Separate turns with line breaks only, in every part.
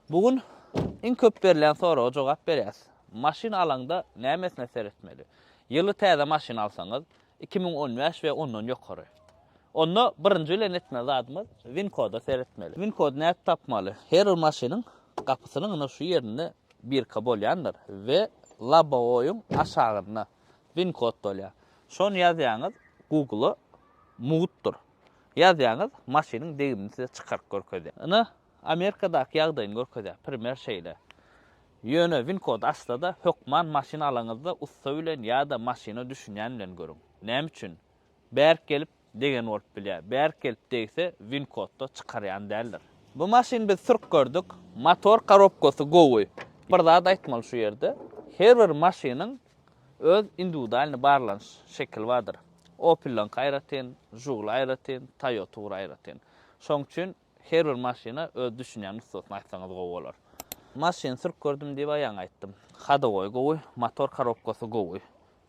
Bu gün iň köp berlen soraga jogap berýäs. Maşyn alaňda nämesine seretmeli? Ýyly täze maşyn alsaňyz, iki müň on bäş we ondan ýokary. Onda birinji bilen etmeli zadymyz win koda seretmeli. Win kody nädip tapmaly? Her bir maşynyň gapysynyň ynha şu ýerinde birka bolýandyr we lobowyň aşagynda win kod bolýar. Şony ýazýaňyz Google-a mugtdyr. Ýazýaňyz maşynyň degimini size çykaryp görkezýär. Ynha Amerikadaky ýagdaýyny görkezýär, primer şeýle. Ýöne winkody açda-da, hökman maşyn alaňyzda ussa bilen ýa-da maşyna düşünýän bilen görüň. Näme üçin? Bärik gelip degen bolup bilýär. Bärik gelip degse, winkodda çykarýan däldir. Bu maşyny biz sürüp gördük. Motor korobkasy gowy. Bir zat aýtmaly şu ýerde. Her bir maşynyň öz indiwidualnyý barlanyş şekili bardyr. Opel'laňky aýratyn, Žugul aýratyn, Toyota ugra aýratyn. Şoň üçin Her bir maşyna öz düşünýän nusgasyny aýtsaňyz gowy bolar. Maşyn sürüp gördüm diýip aýaňa aýtdym. Hadowoý gowy, motor karobkasy gowy.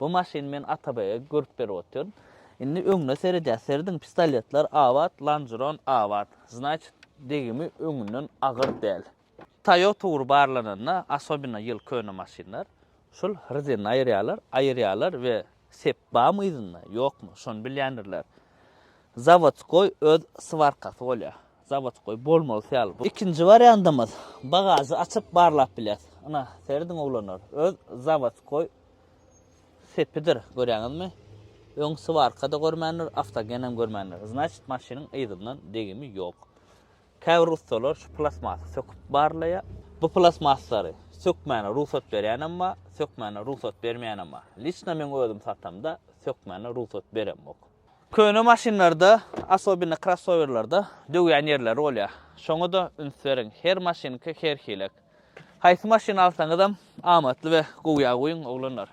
Bu maşyny men Atabaýa görüp berip otyryn. Indi öňüne seredýär. Serediň pistoletler abat, lanjuron abat. Znaçit degimi öňünden agyr däl. Toyota ugry barlananda, asobina ýyl köne maşynlar, şul hrzynny aýyrýarlar, aýyrýarlar we sep bamy yzynda, ýokmy, şony bilýändirler. Zawodskoý öz swarkasy bolýar. Zawodskoý bolmalysy ýaly bu. Ikinji wariantymyz, bagažy açyp barlap bilýäs. Ynha, serediň oglanlar, öz zawodskoý sepidir, görýäňizmi? Öň swarka-da görmändir, awtogen hem görmändir. Znaçit, maşynyň yzyndan degimi ýok. Käbir ussalar şu plastmasy söküp barlaýar. Bu plastmaslary sökmäne rugsat berýänem bar, sökmäne rugsat bermeýänem bar. Liçno meň özüm satamda sökmäne rugsat beremok. Köne maşynlarda, asobino krossowerlerde döwýän ýerleri bolýar. Şoňa-da üns beriň, her maşynka her hiläk. Haýsy maşyny alsaňyzam amatly we gowýa guýuň, oglanlar.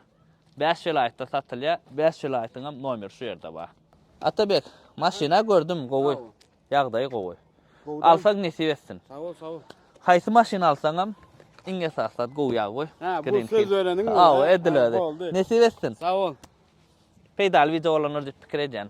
Bäş welaýatda satylýar, bäş welaýatyňam nomeri şu ýerde bar. Atabek, maşyn-a gördüm, gowy. Ýagdaýy gowy. Alsaň nesip etsin. Sag bol, sag bol.
Haýsy maşyn
alsaňam iň esasy zat gowy ýag goý. Ha, bu söz bereniň.
Aw, edil
özi. Nesip etsin.
Sag
bol. Peýdaly wideo
bolandyr
diýip pikir edýän.